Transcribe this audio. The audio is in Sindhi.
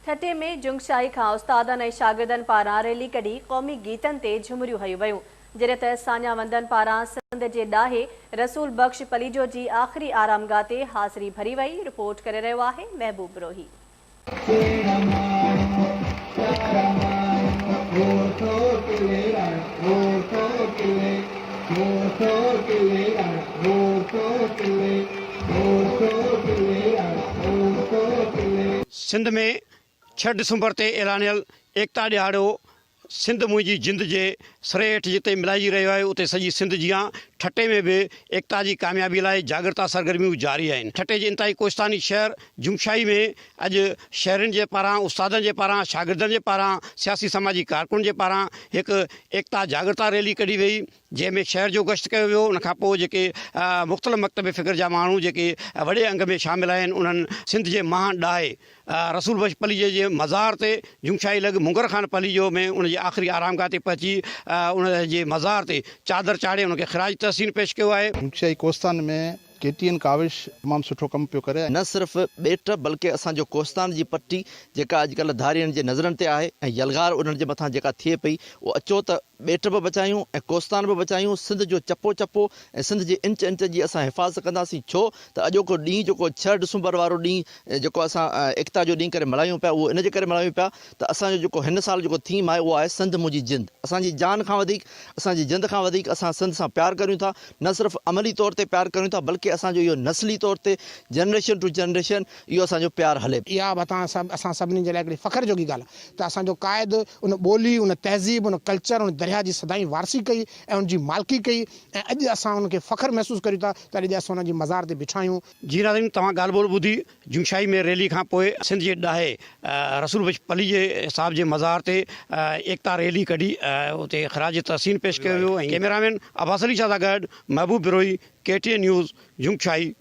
ٺٽي ۾ جنگشاهي کان استادن ۽ شاگردن پاران ريلي ڪڍي قومي گيتن تي جهمريون هنيون ويون، جڏهن ته ساڃاهه وندن پاران سنڌ جي ڏاهي رسول بخش پليجو جي آخري آرامگاهه تي حاضري ڀري وئي، رپورٽ ڪري رهيو آهي محبوب بروهي. سنڌ ۾ ڇهه ڊسمبر تي اعلانيل ايڪتا ڏهاڙو سنڌ منهنجي جند جي سري هيٺ جتي ملهائجي رهيو آهي اتي سڄي سنڌ جيان ٺٽي ۾ به ايڪتا جي ڪاميابي لاء جاڳرتا سرگرميون جاري آهن ٺٽي جي انتهائي ڪوهستاني شهر جمشائي ۾ اڄ شهرين جي پاران استادن جي پاران شاگردن جي پاران سياسي سماجي ڪارڪنن جي پاران هڪ ايڪتا جاڳرتا ريلي ڪڍي وئي جنهن ۾ شهر جو گشت ڪيو ويو ان کانپوء جيڪي مختلف مڪتب فڪر جا ماڻهو جيڪي وڏي انگ ۾ شامل آهن انهن سنڌ جي مهان ڏاهي رسول بخش پليجي جي مزار تي جونگشاهي لڳ مونگر خان پليجو ۾ ان جي آخري آرامگاهه تي پهچي ان جي مزار تي چادر چاڙهي ان کي خراج تحسين پيش ڪيو آهي. جونگشاهي ڪوستان ۾ ڪي ٽي اين ڪاوش تمام سٺو ڪم پيو ڪري. نه صرف ٻيٽ بلڪه اسان جو ڪوهستان جي پٽي جيڪا اڄڪلهه ڌارين جي نظرن تي آهي ۽ يلغار انهن جي مٿان جيڪا ٿئي پئي اهو اچو ته ٻيٽ به بچايون ۽ ڪوهستان به بچايون سنڌ جو چپو چپو ۽ سنڌ جي انچ انچ جي اسان حفاظت ڪنداسين ڇو ته اڄوڪو ڏينهن جيڪو ڇهه ڊسمبر وارو ڏينهن جيڪو اسان ايڪتا جو ڏينهن ڪري ملهايون پيا اهو ان جي ڪري ملهايون پيا ته اسان جو جيڪو هن سال جيڪو ٿيم آهي اهو آهي سنڌ منهنجي جند اسان جي جان کان وڌيڪ اسان جي جند کان وڌيڪ اسان سنڌ سان پيار ڪريون ٿا نه صرف عملي طور تي پيار ڪريون ٿا بلڪه اسان جو اهو نسلي طور تي جنريشن ٽو جنريشن اهو اسان جو پيار هلي پيو. اها به اسان سڀني جي لاء هڪڙي فخر جوڳي ڳالهه آهي ته اسان جو قائد ان ٻولي، ان تهذيب، ان ڪلچر، ان درياهه جي سدائين وارثي ڪئي ۽ ان جي مالڪي ڪئي ۽ اڄ اسان ان کي فخر محسوس ڪريون ٿا ته اڄ جي اسان ان جي مزار تي بيٺا آهيون. جي ناظرين توهان ڳالهه ٻولهه ٻڌي جوشاهي ۾ ريلي کان پوء سنڌ جي ڏاهي رسول بخش پليجي صاحب جي مزار تي ايڪتا ريلي ڪڍي اتي خراج تحسين پيش ڪيو ويو ڪيميرا مين عباس علي شاهه سان گڏ Mehboob Brohi K T N news جوشاهي.